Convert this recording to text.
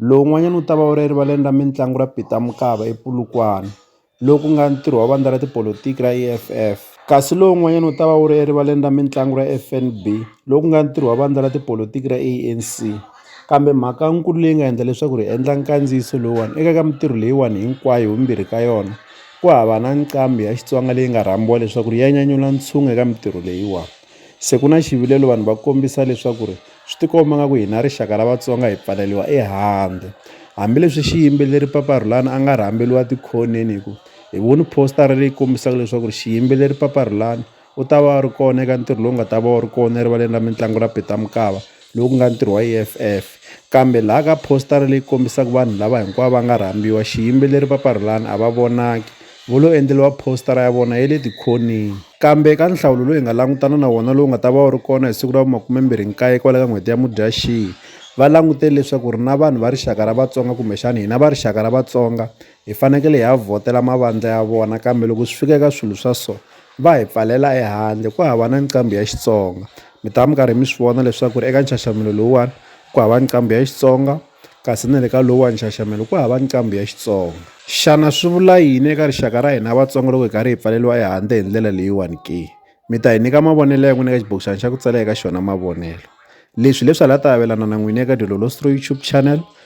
Lowun'wanyana wu ta va wu ri erivaleni ra mitlangu ra Peter Mokaba ePolokwane, lowu ku nga ntirho wa vandla ra tipolotiki ra EFF, kasi lowun'wanyana wu ta va wu ri erivaleni ra mitlangu ra FNB, lowu ku nga ntirho wa vandla ra tipolotiki ra ANC. Kambe mhakankulu leyi nga endla leswaku ri endla nkandziyiso lowuwani eka ka mitirho leyiwani hinkwayo hivumbirhi ka yona ku hava na nqambi ya Xitsonga leyi nga rhambiwa leswaku ri ya nyanyula ntshungu eka mitirho leyiwani. Se ku na xivilelo vanhu va kombisa leswaku ri swi tikomba nga ku hina rixaka ra Vatsonga hi pfaleriwa ehandle hambileswi xiyimbeleri Papa Rhulani a nga rhamberiwa tikhoneni hi ku hi voni poster leyi kombisaka leswaku ri xiyimbeleri Papa Rhulani u ta va a ri kona eka ntirho lowu nga ta va wu ri kona erivaleni ra mitlangu ra Peter Mokaba lowu ku nga ntirho wa EFF, kambe laha ka phositara leyi kombisaka vanhu lava hinkwavo va nga rhambiwa, xiyimbeleri Papa Rhulani a va vonangi, vo lo endleriwa phositara ya vona ya le tikhoneni. Kambe eka nhlawulo lowu hi nga langutana na wona lowu nga ta va wu ri kona hi siku ra vu makume-mbirhi nkaye kwala ka n'hweti ya Mudyaxihi, va langutele leswaku ri na vanhu va rixaka ra Vatsonga kumbexana hina va rixaka ra Vatsonga hi fanekele hi ya vhotela mavandla ya vona, kambe loko swi fika eka swilo swa so, Va hi pfalela ehandle ku hava na nqambi ya Xitsonga. Mi ta va mi karhi mi swi vona leswaku eka nxaxamelo lowuwani ku hava nqambi ya Xitsonga, kasi na le ka lowuwani nxaxamelo ku hava nqambi ya Xitsonga. Xana swi vula yini eka rixaka ra hina Vatsonga loko hi karhi hi pfaleriwa ehandle hi ndlela leyiwani ke? Mi ta hi nyika mavonelo ya n'wina eka xibokixana xa ku tsala eka xona mavonelo. Leswi hi leswi a la ta avelana na n'wina eka Dilolo Stroy YouTube Channel,